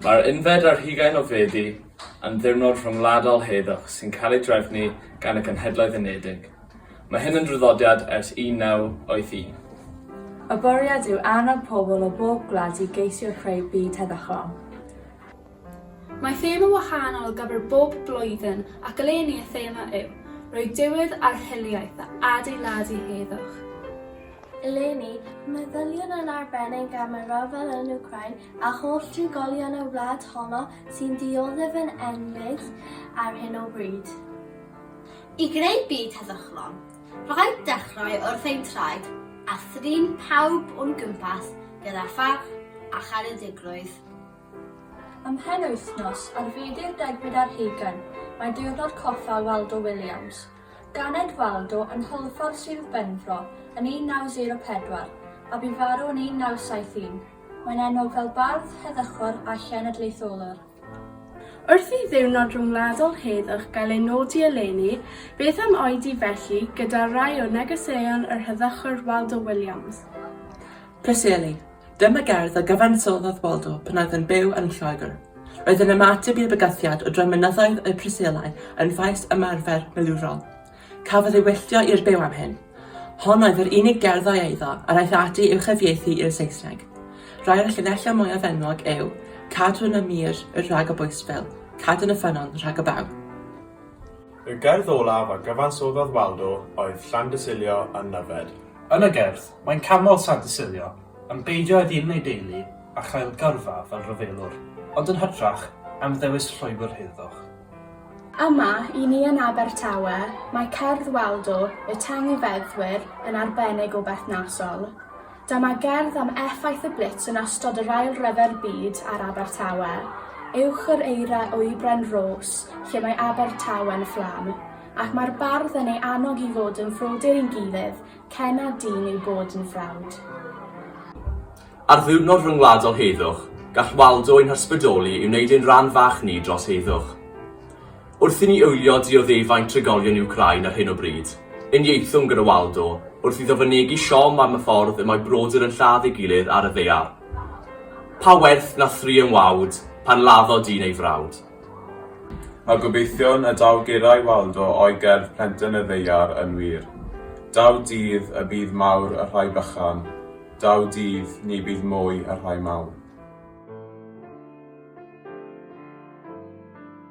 Mae'r unfed ar hugain o Fedi yn ddiwrnod rhyngwladol heddwch sy'n cael ei drefnu gan y Genhedloedd Unedig. Mae hyn yn draddodiad ers 1981. Y bwriad yw annog pobl o bob gwlad i geisio creu byd heddychlon. Mae thema wahanol ar gyfer bob blwyddyn ac eleni y thema yw 'Rhoi Diwedd ar Hiliaeth a Adeiladu Heddwch'. Eleni, meddyliwn yn arbennig am y rhyfel yn Wcráin a holl drigolion y wlad honno sy'n dioddef yn enbyd ar hyn o bryd. I greu byd heddychlon, rhaid dechrau wrth ein traed a thrin pawb o'n gwmpas gyda pharch a charedigrwydd. Ym mhenwythnos ar fyd i'r degfed ar hugain mae Diwrnod Coffa Waldo Williams. Ganed Waldo yng nghylchffordd Sirdd Benfro yn 1904 a bu farw yn 1971. Mae'n enwog fel bardd, heddychwr a chenedlaetholwr. Wrth i Ddiwrnod Ryngwladol Heddwch gael ei nodi eleni, beth am oedi felly gyda rai o negeseuon yr heddychwr Waldo Williams. Preseli, dyma gerdd a gyfansoddodd Waldo pan oedd yn byw yn Lloegr. Roedd yn ymateb i'r bygythiad o dro mynyddoedd y Preselau yn faes ymarfer milwrol. Cafodd ei wylltio i'r byw am hyn. Hon oedd yr unig gerdd o'i eiddo a wnaeth ati i'w chyfieithu i'r Saesneg. Rhai o'r llinellau mwyaf enwog yw Cadw yn y mur rhag y bwystfil, cadw yn y ffynnon rhag y baw. Y gerdd olaf a gyfansoddodd Waldo oedd Llandysilio yn Nyfed. Yn y gerdd, mae'n canmol Llandysilio am beidio â ddilyn ei deulu a chael gyrfa fel rhyfelwr, ond yn hytrach, am ddewis llwybr rhydd-ddoch. Yma, i ni yn Abertawe, mae cerdd Waldo, Y Tangnefeddwyr, yn arbennig o berthnasol. Dyma gerdd am effaith y blitz yn ystod yr Ail Ryfel Byd ar Abertawe. Uwch yr eira o'i bren ros, lle mae Abertawe'n fflam. Ac mae'r bardd yn ei annog i fod yn frodyr i'n gilydd, cen a dyn yw bod yn frawd. Ar ddiwrnod ryngwladol heddwch, gall Waldo ein hysbrydoli i wneud ein rhan fach ni dros heddwch. Wrth i ni wylio dioddefaint trigolion Wcráin ar hyn o bryd, uniaethwn gyda Waldo wrth iddo fynegi siom am y ffordd y mae brodyr yn lladd ei gilydd ar y ddaear. Pa werth na thri yng ngwawd pan laddo dyn ei frawd? Mae gobeithion y daw geiriau Waldo o'i gerdd Plentyn y Ddaear yn wir. Daw dydd y bydd mawr y rhai bychan, daw dydd ni bydd mwy y rhai mawr.